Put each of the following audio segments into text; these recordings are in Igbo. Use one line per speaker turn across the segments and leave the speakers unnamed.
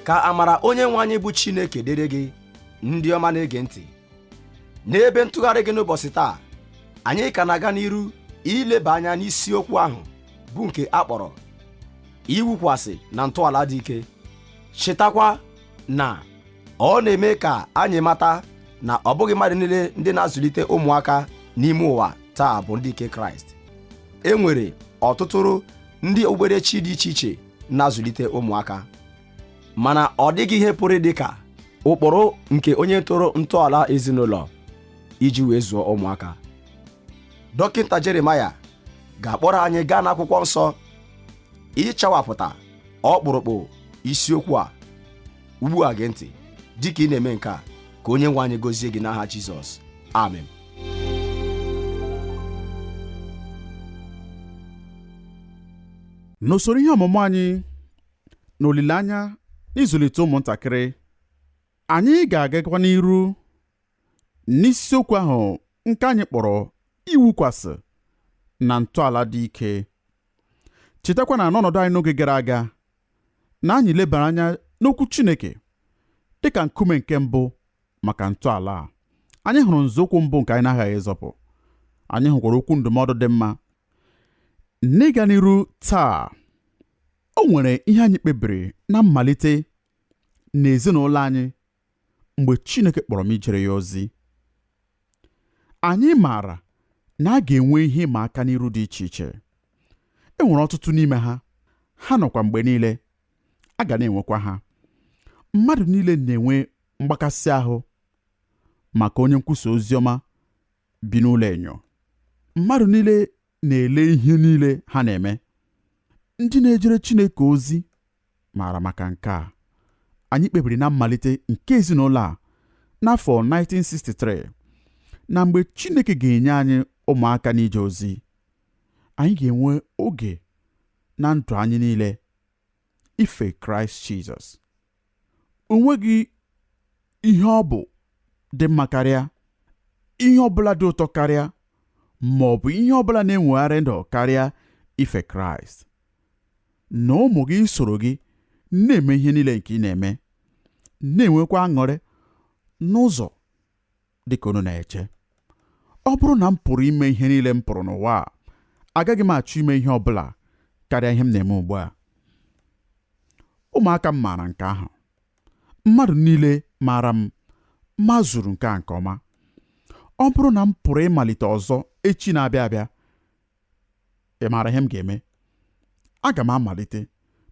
ka amara onye nwe anyị bụ chineke dịrị gị ndị ọma na-ege ntị n'ebe ntụgharị gị n'ụbọchị taa anyị ka na-aga n'iru ileba anya n'isiokwu ahụ bụ nke a kpọrọ iwukwasị na ntọala dị ike chetakwa na ọ na-eme ka anyị mata na ọ bụghị mmadụ niile ndị na-azụlite ụmụaka n'ime ụwa taa bụ ndị nke kraịst e nwere ọtụtụrụ ndị okpukperechi dị iche iche na-azụlite ụmụaka mana ọ dịghị ihe pụrụ dị ka ụkpụrụ nke onye tọrọ ntọala ezinụlọ iji wee zụọ ụmụaka dọkịta jeremaya ga-akpọrọ anyị gaa n'akwụkwọ nsọ ịchawapụta ọkpụrụkpụ isiokwu a ugbu a gee ntị dị ka ị na-eme nke a ka onye nwe anyị gozie gị n'aha jizọs
amen n'usoro ihe ọmụmụ anyị na olileanya n'ịzụlite ụmụntakịrị anyị ga-agakwa n'iru n'isiokwu ahụ nke anyị kpọrọ iwukwasị na ntọala dị ike chetakwa na n'ọnọdụ anyị n'oge gara aga na anyị lebara anya n'okwu Chineke dị ka nkume nke mbụ maka ntọala a anyị hụrụ nzọụkwụ mbụ nke anyị na-aghaghị ịzọpụ anyị hụkwara okwu ndụmọdụ dị mma n'ịga n'iru taa o nwere ihe anyị kpebiri na mmalite n'ezinụlọ anyị mgbe Chineke kpọrọ m ijere ya ozi. Anyị maara na a ga-enwe ihe ịma aka n'iru dị iche iche. E nwere ọtụtụ n'ime ha, ha nọkwa mgbe niile, a ga na-enwekwa ha. Mmadụ niile na-enwe mgbakasị ahụ maka onye nkwusa ozi ọma bi n'ụlọ enyo. Mmadụ niile na-ele ihe niile ha na-eme. Ndị na-ejere Chineke ozi maara maka nke a anyị kpebiri na mmalite nke ezinụlọ a n'afọ 1963 na mgbe Chineke ga-enye anyị ụmụaka n'ije ozi anyị ga-enwe oge na ndụ anyị niile ife Kraịst Jizọs o nweghị ihe ọ bụ dị mma karịa ihe ọ bụla dị ụtọ karịa ma ọ bụ ihe ọ bụla na-enwegharị ndụ karịa ife Kraịst na ụmụ gị isoro gị na-eme ihe niile nke ị na-eme na-enwekwa aṅụrị n'ụzọ dị ka unu na-eche ọ bụrụ na m pụrụ ime ihe niile m pụrụ n'ụwa a agaghị m achọ ime ihe ọ bụla karịa ihe m na-eme ugbu a ụmụaka m maara nke ahụ mmadụ niile maara m mazuru nke a nke ọma ọ bụrụ na m pụrụ ịmalite ọzọ echi na-abịa abịa ị maara ihe m ga-eme aga m amalite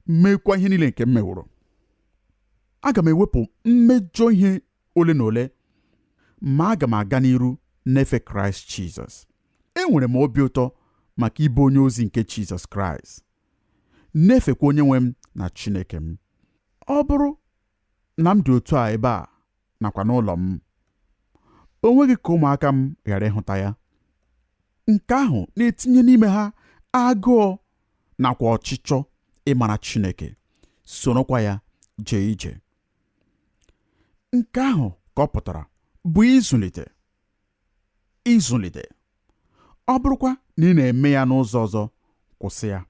meekwa ihe niile nke m meworo aga m ewepụ mmejọ ihe ole na ole ma aga m aga n'iru na-efe kraịst jizọs enwere m obi ụtọ maka ịbụ onye ozi nke jizọs kraịst na-efekwa onye nwe m na chineke m ọ bụrụ na m dị otu a ebe a nakwa n'ụlọ m o nweghị ka ụmụaka m ghara ịhụta ya nke ahụ na-etinye n'ime ha agụụ nakwa ọchịchọ ịmara Chineke sorokwa ya jee ije nke ahụ ka ọ pụtara bụ ịzụlite ịzụlite ọ bụrụkwa na ị na-eme ya n'ụzọ ọzọ kwụsị ya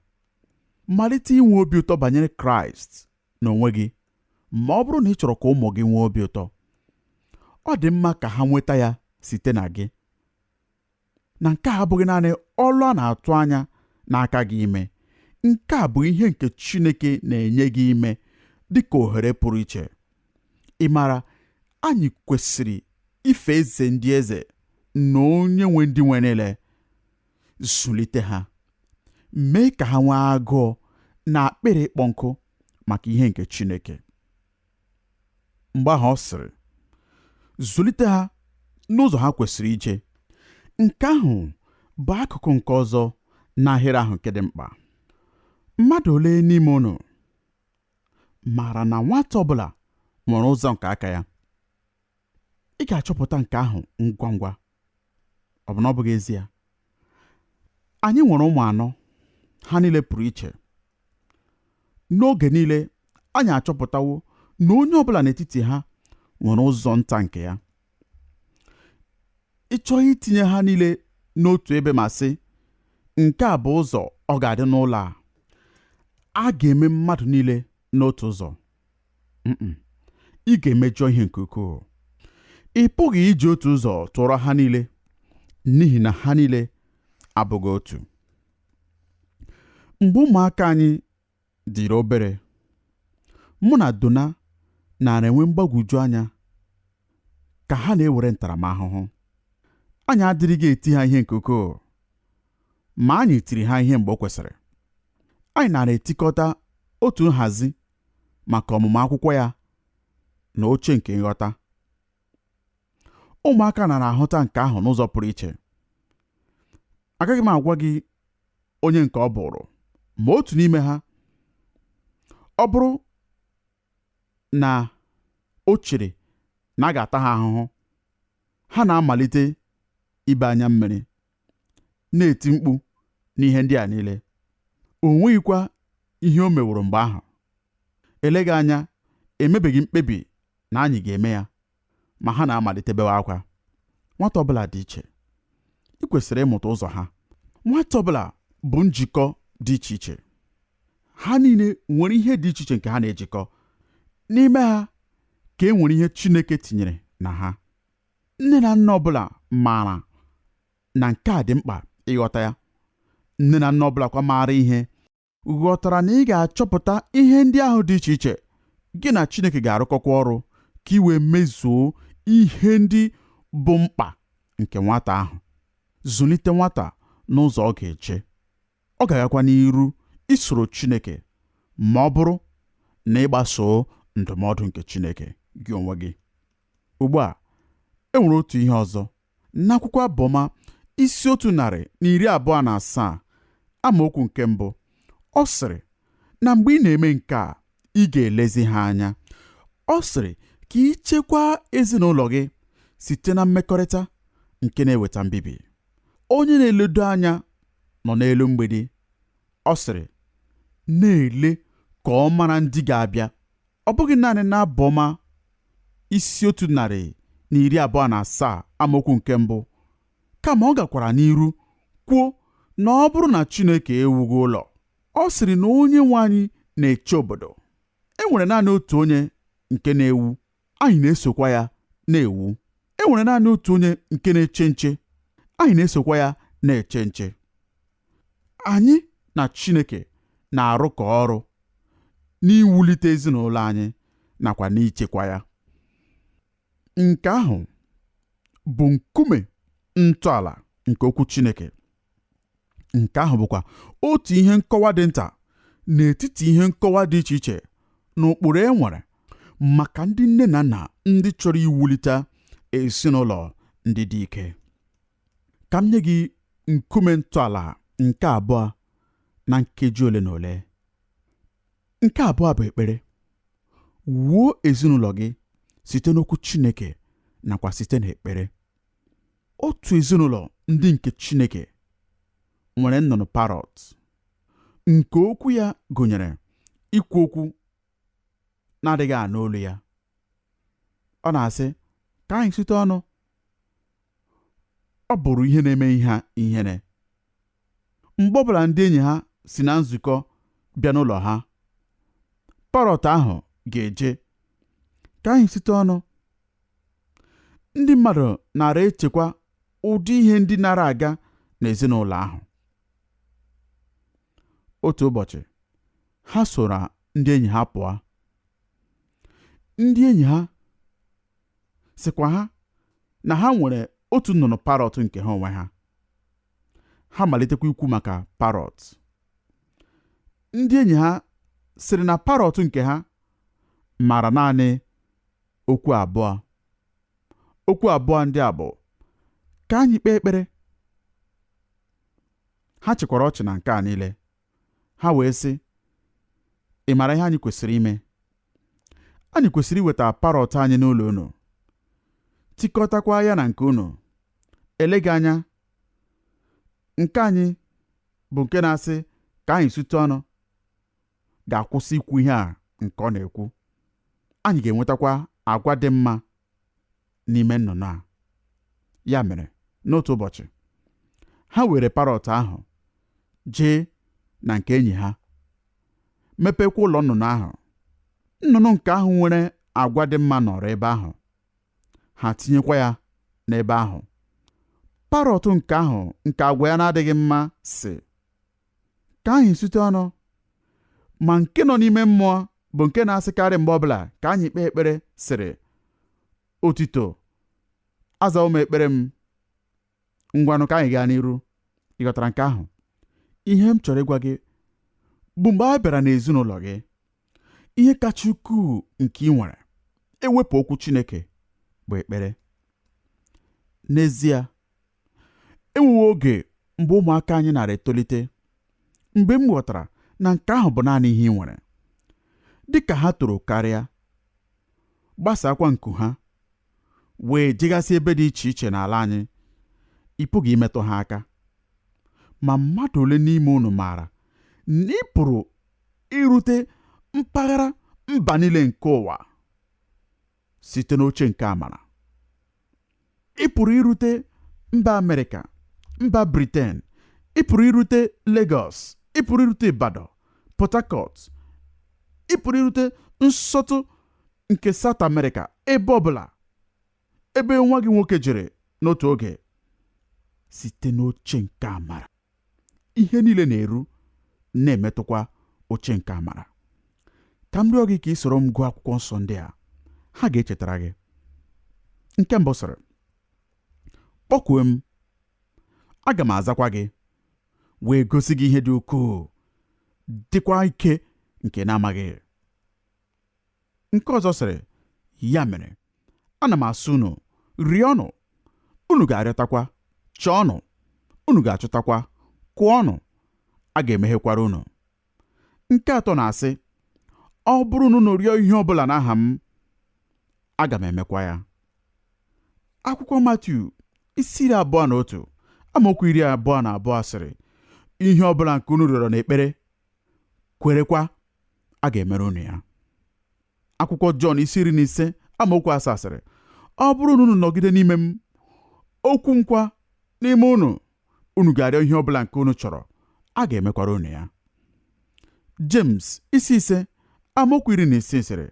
malite inwe obi ụtọ banyere kraịst n'onwe gị ma ọ bụrụ na ị chọrọ ka ụmụ gị nwee obi ụtọ ọ dị mma ka ha nweta ya site na gị na nke a abụghị naanị ọlụ a na-atụ anya n'aka gị ime nke a bụ ihe nke Chineke na-enye gị ime dị ka ohere pụrụ iche ị maara anyị kwesịrị ife eze ndị eze na onye nwe ndị nwe niile zụlite ha mee ka ha nwee agụụ na akpịrị ịkpọ nkụ maka ihe nke Chineke mgbe ahụ ọ sịrị zụlite ha n'ụzọ ha kwesịrị ije nke ahụ bụ akụkụ nke ọzọ n'ahịrị ahụ nke dị mkpa mmadụ ole n'ime unu maara na nwata ọbụla nwere ụzọ nke aka ya ị ga-achọpụta nke ahụ ngwa ngwa ọ bụ na ọ bụghị ezie anyị nwere ụmụ anọ ha niile pụrụ iche n'oge niile anyị achọpụtawo na onye ọbụla n'etiti ha nwere ụzọ nta nke ya ị chọghị itinye ha niile n'otu ebe ma sị nke a bụ ụzọ ọ ga-adị n'ụlọ a a ga-eme mmadụ niile n'otu ụzọ ị ga-emejọ ihe nke ukwuu ị pụghị iji otu ụzọ tụọrọ ha niile n'ihi na ha niile abụghị otu mgbe ụmụaka anyị dịrị obere mụ na Donna nara enwe mgbagwoju anya ka ha na-ewere ntaramahụhụ anyị adịrịghị eti ha ihe nke ukwuu ma anyị tiri ha ihe mgbe o kwesịrị. Anyị nara etikọta otu nhazi maka ọmụmụ akwụkwọ ya na oche nke nghọta. Ụmụaka nara ahụta nke ahụ n'ụzọ pụrụ iche. Agaghị m agwa gị onye nke ọ bụrụ, ma otu n'ime ha, ọ bụrụ na o chere na a ga-ata ha ahụhụ, ha na-amalite ibe anya mmiri. na-eti mkpu n'ihe ndị a niile o nweghịkwa ihe o meworo mgbe ahụ eleghị anya emebeghị mkpebi na anyị ga-eme ya ma ha na-amalite bewe akwa nwata ọbụla dị iche i kwesịrị ịmụta ụzọ ha nwata ọbụla bụ njikọ dị iche iche ha niile nwere ihe dị iche iche nke ha na-ejikọ n'ime ha ka e nwere ihe Chineke tinyere na ha nne na nna ọbụla maara na nke a dị mkpa ịghọta ya nne na nna ọbụla kwa maara ihe ghọtara na ị ga-achọpụta ihe ndị ahụ dị iche iche gị na Chineke ga-arụkọkwa ọrụ ka i wee mezuo ihe ndị bụ mkpa nke nwata ahụ zụlite nwata n'ụzọ ọ ga-eje ọ ga-agakwa n'iru isoro Chineke ma ọ bụrụ na ị gbasoo ndụmọdụ nke Chineke gị onwe gị Ugbu a, e nwere otu ihe ọzọ. N'akwụkwọ Abụ Ọma isi otu narị na iri abụọ na asaa amaokwu nke mbụ ọ sịrị na mgbe ị na-eme nke a ị ga-elezi ha anya ọ sịrị ka i chekwaa ezinụlọ gị site na mmekọrịta nke na-eweta mbibi onye na-eledo anya nọ n'elu mgbidi ọ sịrị na-ele ka ọ mara ndị ga-abịa ọ bụghị naanị n'abụ ọma isi otu narị na iri abụọ na asaa amaokwu nke mbụ kama ọ gakwara n'iru kwuo na ọ bụrụ na Chineke ewughị ụlọ ọ sịrị na onye nwe anyị na-eche obodo e nwere naanị otu onye nke na-ewu anyị na-esokwa ya na-ewu e nwere naanị otu onye nke na-eche nche anyị na-esokwa ya na-eche nche anyị na Chineke na-arụkọ ọrụ n'iwulite ezinụlọ anyị nakwa n'ichekwa ya nke ahụ bụ nkume ntọala nke okwu Chineke nke ahụ bụkwa otu ihe nkọwa dị nta n'etiti ihe nkọwa dị iche iche na ụkpụrụ e nwere maka ndị nne na nna ndị chọrọ iwulite ezinụlọ ndị dị ike ka m nye gị nkume ntọala nke abụọ na nkeji ole na ole nke abụọ bụ ekpere wuo ezinụlọ gị site n'okwu Chineke nakwa site n'ekpere otu ezinụlọ ndị nke Chineke nwere nnụnụ parrot nke okwu ya gụnyere ikwu okwu na-adịghị anụ olu ya ọ na-asị ka anyị sutu ọnụ ọ bụrụ ihe na-eme ha ihere mgbe ọ bụla ndị enyi ha si na nzukọ bịa n'ụlọ ha parọt ahụ ga-eje ka anyị sute ọnụ ndị mmadụ nara echekwa ụdị ihe ndị nara aga n'ezinụlọ ahụ otu ụbọchị ha soro ndị enyi ha pụọ ndị enyi ha sịkwa ha na ha nwere otu nnụnụ parọt nke ha onwe ha ha malitekwa ikwu maka parọt ndị enyi ha sịrị na parọt nke ha maara naanị okwu abụọ okwu abụọ ndị a bụ ka anyị kpee ekpere ha chịkwara ọchị na nke a niile ha wee sị ị mara ihe anyị kwesịrị ime anyị kwesịrị iweta parọt anyị n'ụlọ unu tikọtakwa ya na nke unu eleghị anya nke anyị bụ nke na-asị ka anyị sute ọnụ ga-akwụsị ikwu ihe a nke ọ na-ekwu anyị ga-enwetakwa agwa dị mma n'ime nnụnụ a ya mere n'otu ụbọchị ha weere parọt ahụ jee na nke enyi ha mepekwa ụlọ nnụnụ ahụ nnụnụ nke ahụ nwere agwa dị mma nọrọ ebe ahụ ha tinyekwa ya n'ebe ahụ parọt nke ahụ nke agwa ya na-adịghị mma sị ka anyị sute ọnụ ma nke nọ n'ime mmụọ bụ nke na-asịkarị mgbe ọbụla ka anyị kpee ekpere sịrị otito azawo m ekpere m ngwanụ ka anyị gaa n'iru ị ghọtara nke ahụ ihe m chọrọ ịgwa gị bụ mgbe a bịara n'ezinụlọ gị ihe kacha ukwuu nke i nwere e wepụ okwu Chineke bụ ekpere N'ezie, e nwewo oge mgbe ụmụaka anyị nara etolite mgbe m ghọtara na nke ahụ bụ naanị ihe i nwere. Dị ka ha toro karịa, gbasaakwa nku ha, wee jegasị ebe dị iche iche n'ala anyị, ị pụghị imetụ ha aka. Ma mmadụ ole n'ime unu maara na ị pụrụ irute mpaghara mba niile nke ụwa? site n'oche nke amara ị pụrụ irute mba amerịka mba briten ị pụrụ irute Lagos ị pụrụ irute Ibadan Port Harcourt ị pụrụ irute nsọtụ nke South America ebe ọbụla ebe nwa gị nwoke jere n'otu oge site n'oche nke amara ihe niile na-eru na-emetụkwa oche nke amara ka m rịọ gị ka i soro m gụọ akwụkwọ nsọ ndị a ha ga-echetara gị nke mbụ sịrị kpọkue m aga m azakwa gị wee gosi gị ihe dị ukwuu dịkwa ike nke ị na-amaghị Nke ọzọ sịrị, Ya mere, ana m asị unu, rịọnụ, unu ga-arịọtakwa, chọọnụ, unu ga-achọtakwa, kụọnụ, a ga-emeghekwara unu. Nke atọ na-asị, Ọ bụrụ na unu rịọ ihe ọ bụla n'aha m, aga m emekwa ya. Akwụkwọ Matiu isi iri abụọ na otu amaokwu iri abụọ na abụọ sịrị, Ihe ọ bụla nke unu rịọrọ n'ekpere, kwerekwa a ga-emere unu ya akwụkwọ Jọn isi iri na ise amaokwu asaa sịrị ọ bụrụ na unu nọgide n'ime m okwu m kwa n'ime unu unu ga-arịọ ihe ọ bụla nke unu chọrọ a ga-emekwara unu ya James isi ise amaokwu iri na isii sịrị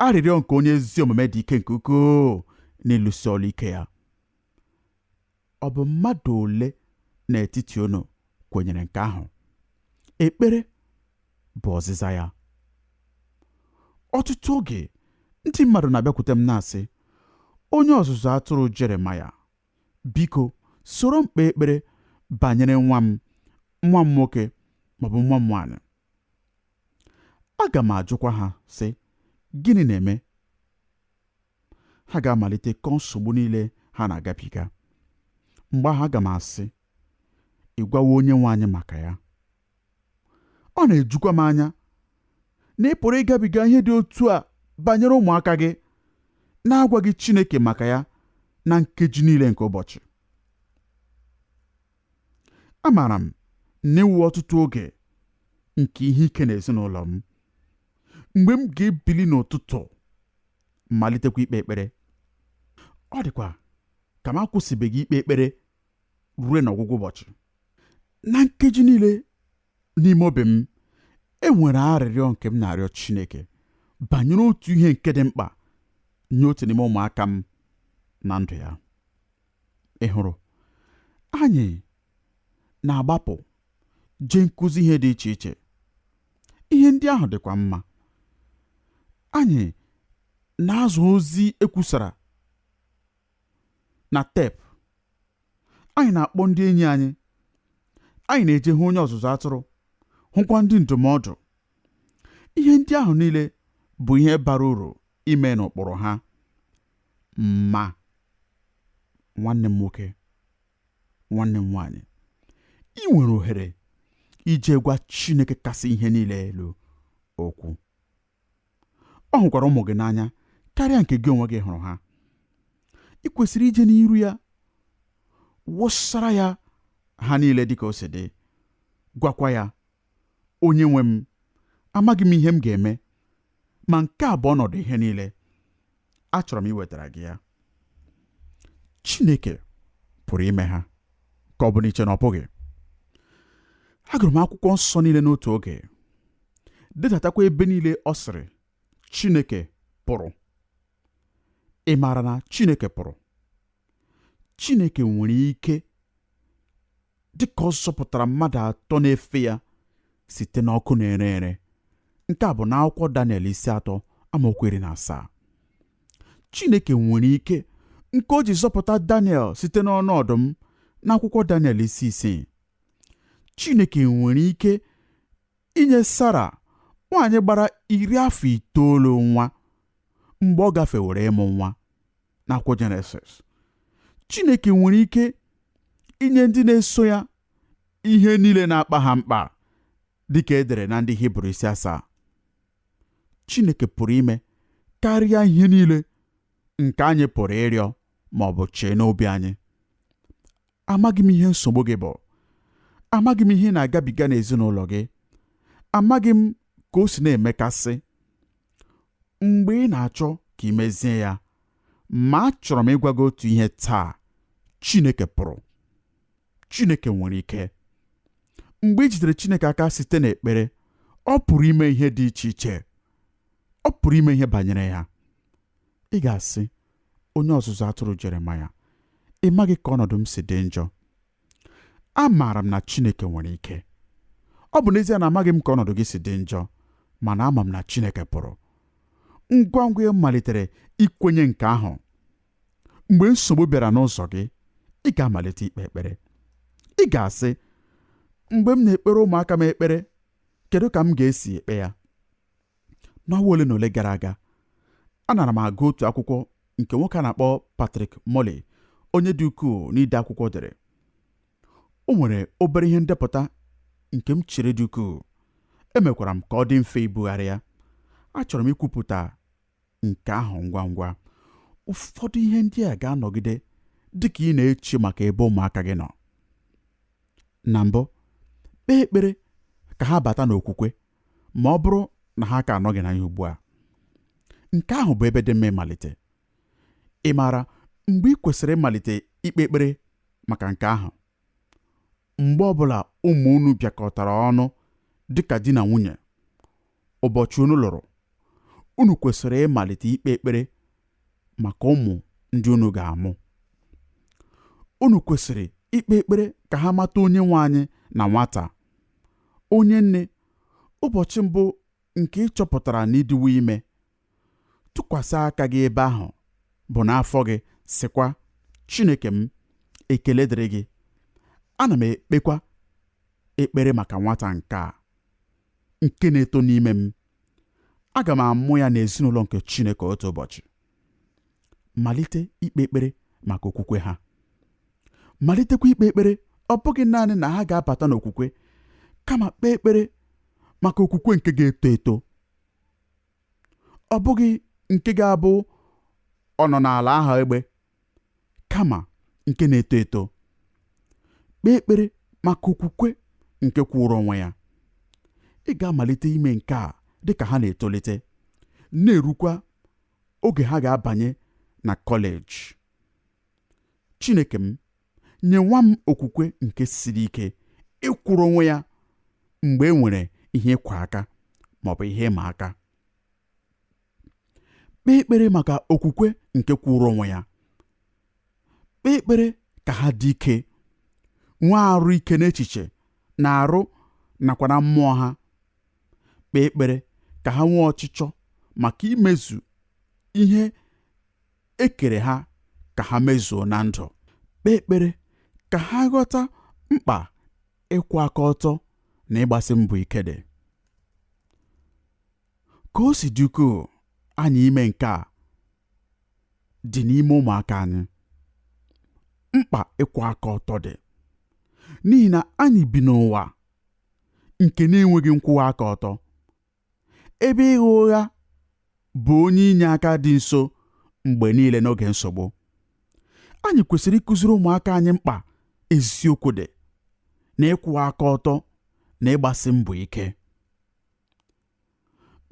arịrịọ nke onye ezi omume dị ike nke ukwuu n'ịlụsi ọrụ ike ya ọ bụ mmadụ ole n'etiti unu kwenyere nke ahụ ekpere bụ ọzịza ya ọtụtụ oge ndị mmadụ na-abịakwute m na-asị onye ọzụzụ atụrụ jeremaya biko soro m kpee ekpere banyere nwa m nwa m nwoke maọbụ nwa m nwaanyị aga m ajụkwa ha sị gịnị na-eme ha ga-amalite kọọ nsogbu niile ha na-agabiga mgbe ahụ aga m asị ị gwawo onye nwe anyị maka ya ọ na-ejukwa m anya na ị pụrụ ịgabiga ihe dị otu a banyere ụmụaka gị na-agwaghị Chineke maka ya na nkeji niile nke ụbọchị amaara m na e nwewo ọtụtụ oge nke ihe ike n'ezinụlọ m mgbe m ga-ebili n'ụtụtụ malitekwa ikpe ekpere ọ dịkwa ka m akwụsịbeghị ikpe ekpere ruo n'ọgwụgwụ ụbọchị na nkeji niile n'ime obi m e nwere arịrịọ nke m na-arịọ Chineke banyere otu ihe nke dị mkpa nye otu n'ime ụmụaka m na ndụ ya ị hụrụ anyị na-agbapụ jee nkụzi ihe dị iche iche ihe ndị ahụ dịkwa mma anyị na-azụ ozi e kwusara na tep anyị na-akpọ ndị enyi anyị anyị na-eje hụ onye ọzụzụ atụrụ hụkwa ndị ndụmọdụ ihe ndị ahụ niile bụ ihe bara uru ime n'ụkpụrụ ha ma nwanne m nwoke nwanne m nwaanyị i nwere ohere ije gwa Chineke kasị ihe niile elu okwu ọ hụkwara ụmụ gị n'anya karịa nke gị onwe gị hụrụ ha i kwesịrị ije n'iru ya wụsara ya ha niile dịka o si dị gwakwa ya Onye nwe m, amaghị m ihe m ga-eme, ma nke a bụ ọnọdụ ihe niile. Achọrọ m iwetara gị ya. Chineke pụrụ ime ha ka ọ bụ na i che na ọ pụghị. Agụrụ m akwụkwọ nsọ niile n'otu oge, dedatakwa ebe niile ọ sịrị Chineke pụrụ. Ị maara na Chineke pụrụ? Chineke nwere ike dịka ọ zọpụtara mmadụ atọ na-efe ya site n'ọkụ na-ere ere nke a bụ n'akwụkwọ Daniel isi atọ amaokwu iri na asaa Chineke nwere ike nke o ji zọpụta Daniel site n'ọnụ ọdụm n'akwụkwọ Daniel isi isii Chineke nwere ike inye Sara nwaanyị gbara iri afọ itoolu nwa mgbe ọ gafewere ịmụ nwa n'akwụkwọ jenesis chineke nwere ike inye ndị na-eso ya ihe niile na-akpa ha mkpa dịka e dere na ndị hibru isi asaa chineke pụrụ ime karịa ihe niile nke anyị pụrụ ịrịọ ma ọ bụ chee n'obi anyị amaghị m ihe nsogbu gị bụ amaghị m ihe ị na-agabiga n'ezinụlọ gị amaghị m ka o si na-emekasị mgbe ị na-achọ ka i mezie ya ma achọrọ m ịgwa gị otu ihe taa Chineke pụrụ Chineke nwere ike mgbe i jidere Chineke aka site n'ekpere ọ pụrụ ime ihe dị iche iche ọ pụrụ ime ihe banyere ya ị ga-asị onye ọzụzụ atụrụ Jeremaya, ị maghị ka ọnọdụ m si dị njọ. Amaara m na Chineke nwere ike. Ọ bụ n'ezie na amaghị m ka ọnọdụ gị si dị njọ, mana ama m na Chineke pụrụ. Ngwa ngwa ị malitere ikwenye nke ahụ, mgbe nsogbu bịara n'ụzọ gị, ị ga-amalite ikpe ekpere. Ị ga-asị, Mgbe m na-ekpere ụmụaka m ekpere, kedu ka m ga-esi ekpe ya? n'ọnwa ole na ole gara aga anara m agụ otu akwụkwọ nke nwoke a na-akpọ Patrick Morley onye dị ukwuu n'ide akwụkwọ dere o nwere obere ihe ndepụta nke m chere dị ukwuu emekwara m ka ọ dị mfe ibugharị ya achọrọ m ikwupụta nke ahụ ngwa ngwa ụfọdụ ihe ndị a ga-anọgide dị ka ị na-eche maka ebe ụmụaka gị nọ na mbụ kpee ekpere ka ha bata n'okwukwe ma ọ bụrụ na ha ka anọghị na ya ugbu a nke ahụ bụ ebe dị mma ịmalite ị maara mgbe ị kwesịrị ịmalite ikpe ekpere maka nke ahụ mgbe ọbụla ụmụ unu bịakọtara ọnụ dịka di na nwunye ụbọchị unu lụrụ unu kwesịrị ịmalite ikpe ekpere maka ụmụ ndị unu ga-amụ unu kwesịrị ikpe ekpere ka ha mata onye nwe anyị na nwata onye nne ụbọchị mbụ nke ị chọpụtara na ị dịwo ime tụkwasị aka gị ebe ahụ bụ n'afọ gị sịkwa Chineke m ekele dịrị gị ana m ekpekwa ekpere maka nwata nke a nke na-eto n'ime m aga m amụ ya n'ezinụlọ nke Chineke otu ụbọchị malite ikpe ekpere maka okwukwe ha malitekwa ikpe ekpere ọ bụghị naanị na ha ga-abata n'okwukwe kama kpee ekpere maka okwukwe nke ga-eto eto ọ bụghị nke ga-abụ ọ nọ n'ala aha egbe kama nke na-eto eto kpee ekpere maka okwukwe nke kwụrụ onwe ya ị ga-amalite ime nke a dị ka ha na-etolite na-erukwa oge ha ga-abanye na kọleji chineke m nye nwa m okwukwe nke siri ike ịkwụrụ onwe ya mgbe e nwere ihe ịkwa aka ma ọ bụ ihe ịma aka kpee ekpere maka okwukwe nke kwụrụ onwe ya kpee ekpere ka ha dị ike nwee arụ ike n'echiche na arụ nakwa na mmụọ ha kpee ekpere ka ha nwee ọchịchọ maka imezu ihe e kere ha ka ha mezuo na ndụ kpee ekpere ka ha ghọta mkpa ịkwụ aka ọtọ na ịgbasi mbọ ike dị ka o si dị ukwuu anyị ime nke a dị n'ime ụmụaka anyị mkpa ịkwụ aka ọtọ dị n'ihi na anyị bi n'ụwa nke na-enweghị nkwụwa aka ọtọ ebe ịgha ụgha bụ onye inye aka dị nso mgbe niile n'oge nsogbu anyị kwesịrị ịkụziri ụmụaka anyị mkpa eziokwu dị na ịkwụwa aka ọtọ na ịgbasi mbọ ike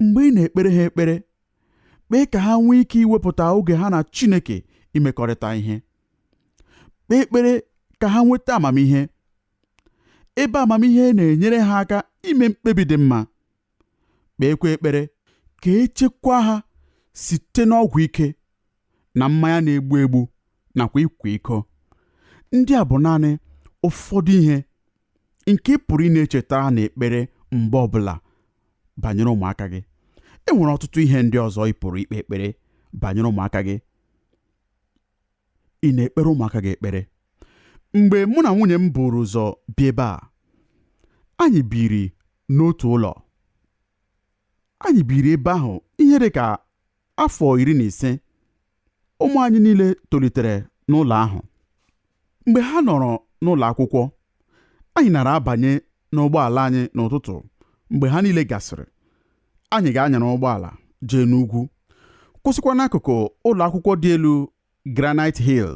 mgbe ị na-ekpere ha ekpere kpee ka ha nwee ike iwepụta oge ha na Chineke imekọrịta ihe kpee ekpere ka ha nweta amamihe ebe amamihe na-enyere ha aka ime mkpebi dị mma kpeekwa ekpere ka echekwa ha site n'ọgwụ ike na mmanya na-egbu egbu nakwa ịkwa iko ndị a bụ naanị ụfọdụ ihe nke ị pụrụ ị na-echetara na ekpere mgbe ọbụla banyere ụmụaka gị e nwere ọtụtụ ihe ndị ọzọ ị pụrụ ikpe ekpere banyere ụmụaka gị ị na-ekpere ụmụaka gị ekpere mgbe mụ na nwunye m buru ụzọ bịa ebe a anyị biri n'otu ụlọ anyị biri ebe ahụ ihe dị ka afọ iri na ise ụmụ anyị niile tolitere n'ụlọ ahụ mgbe ha nọrọ n'ụlọ akwụkwọ Anyị nara abanye n'ụgbọala anyị n'ụtụtụ mgbe ha niile gasịrị. Anyị ga-anyara ụgbọala jee n'ugwu, kwụsịkwa n'akụkụ ụlọ akwụkwọ dị elu Granite Hill.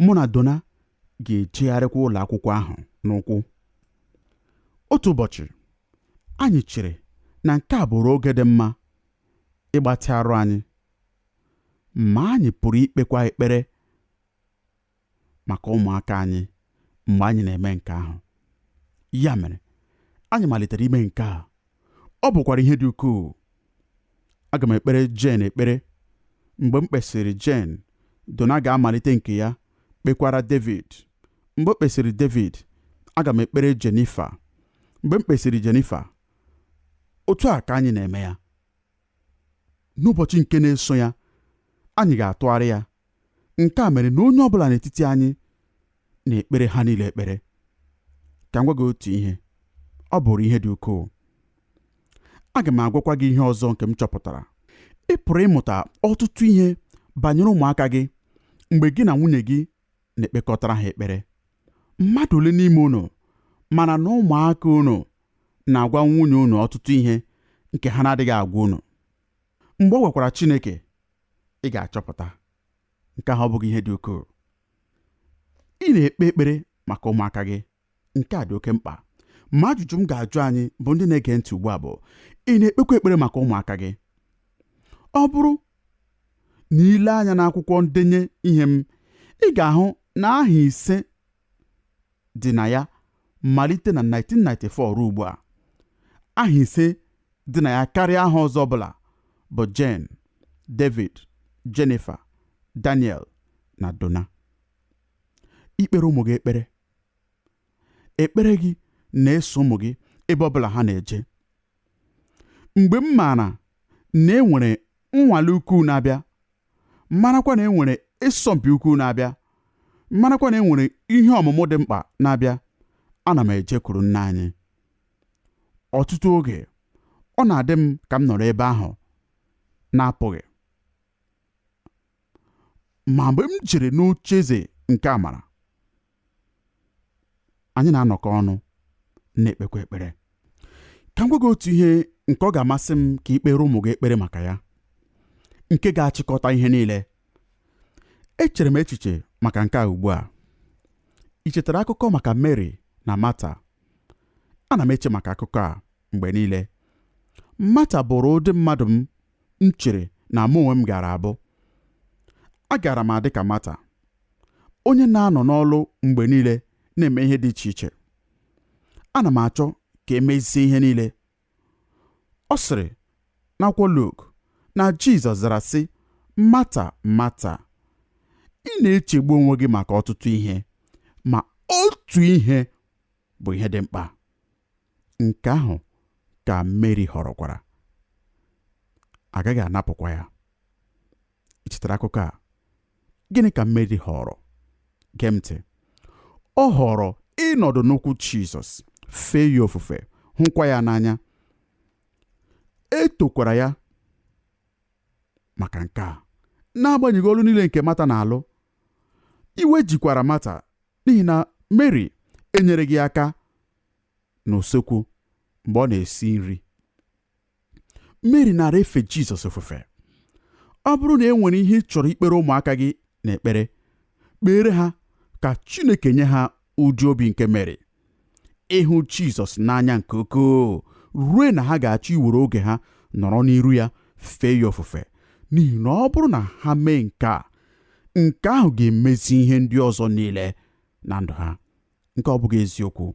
Mụ na Donna ga-ejegharịkwa ụlọ akwụkwọ ahụ n'ụkwụ. Otu ụbọchị, anyị chere na nke a bụrụ oge dị mma ịgbatị arụ anyị, ma anyị pụrụ ikpekwa ekpere maka ụmụaka anyị mgbe anyị na-eme nke ahụ. Ya mere, anyị malitere ime nke a. Ọ bụkwara ihe dị ukwuu. Aga m ekpere Jen ekpere. Mgbe m kpesịrị Jen, Donna ga-amalite nke ya, kpekwara David. Mgbe o kpesịrị David, aga m ekpere Jennifer. Mgbe m kpesịrị Jennifer, otu a ka anyị na-eme ya. n'ụbọchị nke na-eso ya anyị ga-atụgharị ya nke a mere na onye ọ bụla n'etiti anyị na-ekpere ha niile ekpere ka m gwa gị otu ihe ọ bụrụ ihe dị ukwuu aga m agwakwa gị ihe ọzọ nke m chọpụtara ị pụrụ ịmụta ọtụtụ ihe banyere ụmụaka gị mgbe gị na nwunye gị na-ekpekọtara ha ekpere mmadụ ole n'ime unu mara na ụmụaka unu na-agwa nwunye unu ọtụtụ ihe nke ha na-adịghị agwa unu mgbe ọ gwakwara Chineke ị ga-achọpụta nke ahụ ọ bụghị ihe dị ukwuu ị na-ekpe ekpere maka ụmụaka gị nke a dị oke mkpa ma ajụjụ m ga-ajụ anyị bụ ndị na-ege ntị ugbu a bụ ị na-ekpekwa ekpere maka ụmụaka gị ọ bụrụ na i lee anya n'akwụkwọ ndenye ihe m ị ga-ahụ na aha ise dị na ya malite na 1994 ruo ugbu a aha ise dị na ya karịa aha ọzọ ọbụla bụ Jen David Jennifer Daniel na Donna ikpere ụmụ gị ekpere ekpere gị na-eso ụmụ gị ebe ọ bụla ha na-eje mgbe m maara na e nwere nnwale ukwu na-abịa marakwa na e nwere ịsọmpi ukwu na-abịa marakwa na e nwere ihe ọmụmụ dị mkpa na-abịa ana m ejekwuru nna anyị ọtụtụ oge ọ na-adị m ka m nọrọ ebe ahụ na-apụghị ma mgbe m jere n'oche eze nke amara anyị na-anọkọ ọnụ na-ekpekwa ekpere ka m gwa gị otu ihe nke ọ ga-amasị m ka i kpeere ụmụ gị ekpere maka ya nke ga-achịkọta ihe niile echere m echiche maka nke a ugbu a i chetara akụkọ maka Mary na Mata ana m eche maka akụkọ a mgbe niile Mata bụrụ ụdị mmadụ m m chere na mụ onwe m gaara abụ agaara m adị ka Mata onye na-anọ n'ọlụ mgbe niile na-eme ihe dị iche iche ana m achọ ka e mezie ihe niile ọ sịrị n'akwụkwọ Luk na Jizọs zara sị Mata Mata ị na-echegbu onwe gị maka ọtụtụ ihe ma otu ihe bụ ihe dị mkpa nke ahụ ka Meri họrọkwara a gaghị anapụkwa ya i chetara akụkọ a gịnị ka Meri họrọ gee ntị ọ họrọ ịnọdụ n'ụkwụ Jizọs fee ya ofufe hụkwa ya n'anya e tokwara ya maka nke a n'agbanyeghị ọlụ niile nke Mata na-alụ iwe jikwara Mata n'ihi na Mary enyereghị aka n'usekwu mgbe ọ na-esi nri Mary naara efe Jizọs ofufe ọ bụrụ na e nwere ihe ị chọrọ ikpere ụmụaka gị n'ekpere kpeere ha ka Chineke nye ha ụdị obi nke Meri ịhụ Jizọs n'anya nke ukwuu ruo na ha ga-achọ iwere oge ha nọrọ n'iru ya fee ya ofufe n'ihi na ọ bụrụ na ha mee nke a nke ahụ ga-emezi ihe ndị ọzọ niile na ndụ ha nke ọ bụghị eziokwu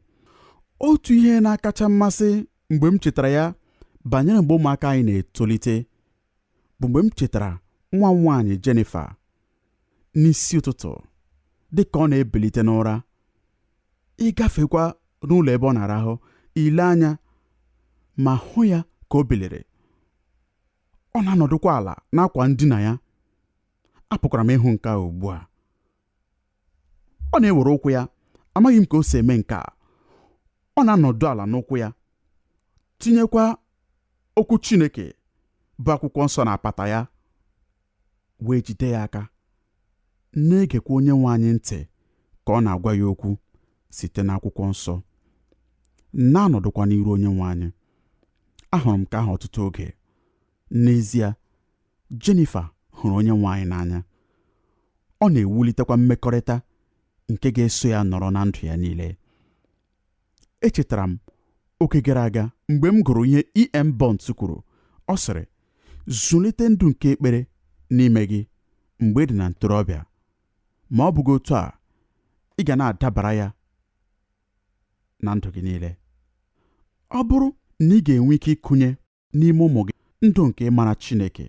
otu ihe na-akacha mmasị mgbe m chetara ya banyere mgbe ụmụaka anyị na-etolite bụ mgbe m chetara nwa m nwaanyị Jennifer n'isi ụtụtụ dị ka ọ na-ebilite n'ụra ịgafekwa n'ụlọ ebe ọ na-arahụ ile anya ma hụ ya ka o biliri ọ na-anọdụkwa ala n'akwa ndina ya apụkwara m ịhụ nke a ugbu a ọ na-ewere ụkwụ ya amaghị m ka o si eme nke a ọ na-anọdụ ala n'ụkwụ ya tinyekwa okwu Chineke bụ akwụkwọ nsọ n'apata ya wee jide ya aka, na-egekwa onye nwe anyị ntị ka ọ na-agwa ya okwu site n'akwụkwọ nsọ, na-anọdụkwa n'iru onye nwe anyị. Ahụrụ m nke ahụ ọtụtụ oge. N'ezie, Jennifer hụrụ onye nwe anyị n'anya. Ọ na-ewulitekwa mmekọrịta nke ga-eso ya nọrọ na ndụ ya niile. echetara m oge gara aga mgbe m gụrụ ihe E.M. Bounds kwuru ọ sịrị zụlite ndụ nke ekpere n'ime gị mgbe ị dị na ntorobịa ma ọ bụghị otu a ị ga na-adabara ya na ndụ gị niile ọ bụrụ na ị ga-enwe ike ịkụnye n'ime ụmụ gị ndụ nke ịmara Chineke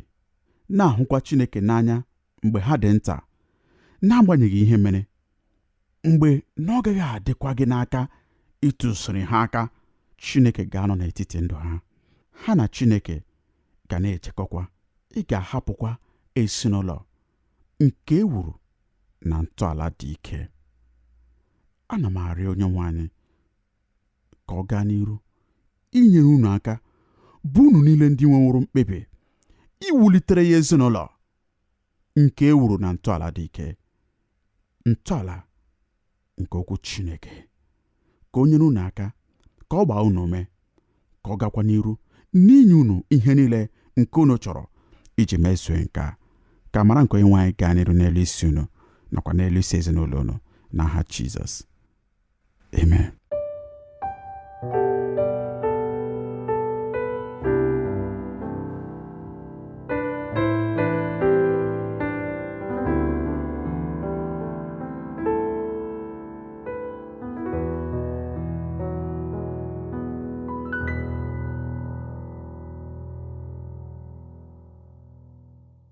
na-ahụkwa Chineke n'anya mgbe ha dị nta n'agbanyeghị ihe mere mgbe na ọ gaghị adịkwa gị n'aka ịtụziri ha aka Chineke ga-anọ n'etiti ndụ ha ha na Chineke ga na-ejekọkwa ị ga-ahapụkwa ezinụlọ nke e wuru na ntọala dị ike ana m arịọ onye nwe anyị ka ọ gaa n'iru inyere unu aka bụ unu niile ndị nweworo mkpebi iwulitere ya ezinụlọ nke e wuru na ntọala dị ike ntọala nke okwu Chineke ka o nyere unu aka ka ọ gbaa unu ume ka ọ gakwa n'iru n'inye unu ihe niile nke unu chọrọ iji mezuo nke a ka amara nke onye nwe anyị gaa n'iru n'elu isi unu nakwa n'elu isi ezinụlọ unu n'aha Jizọs Amen.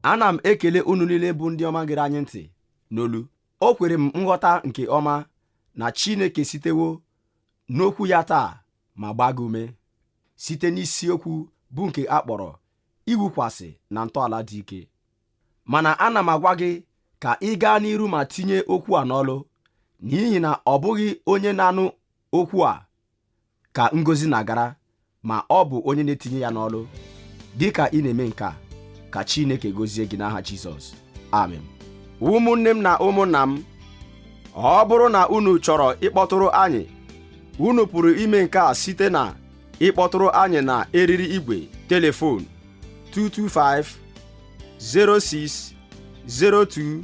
ana m ekele unu niile bụ ndị ọma gere anyị ntị n'olu o kwere m nghọta nke ọma na Chineke sitewo n'okwu ya taa ma gbaa gị ume site n'isiokwu bụ nke a kpọrọ iwukwasị na ntọala dị ike mana ana m agwa gị ka ị gaa n'iru ma tinye okwu a n'ọlụ n'ihi na ọ bụghị onye na-anụ okwu a ka ngọzi na-agara ma ọ bụ onye na-etinye ya n'ọlụ dị ka ị na-eme nke a ka Chineke gọzie gị n'aha Jizọs amen ụmụnne m na ụmụnna m ọ bụrụ na unu chọrọ ịkpọtụrụ anyị unu pụrụ ime nke a site na ịkpọtụrụ anyị na eriri igwe telefon 225 06 02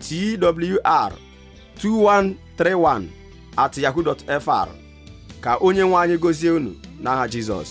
twr 2131 at yahoo.fr ka onye nwe anyị gọzie unu n'aha Jizọs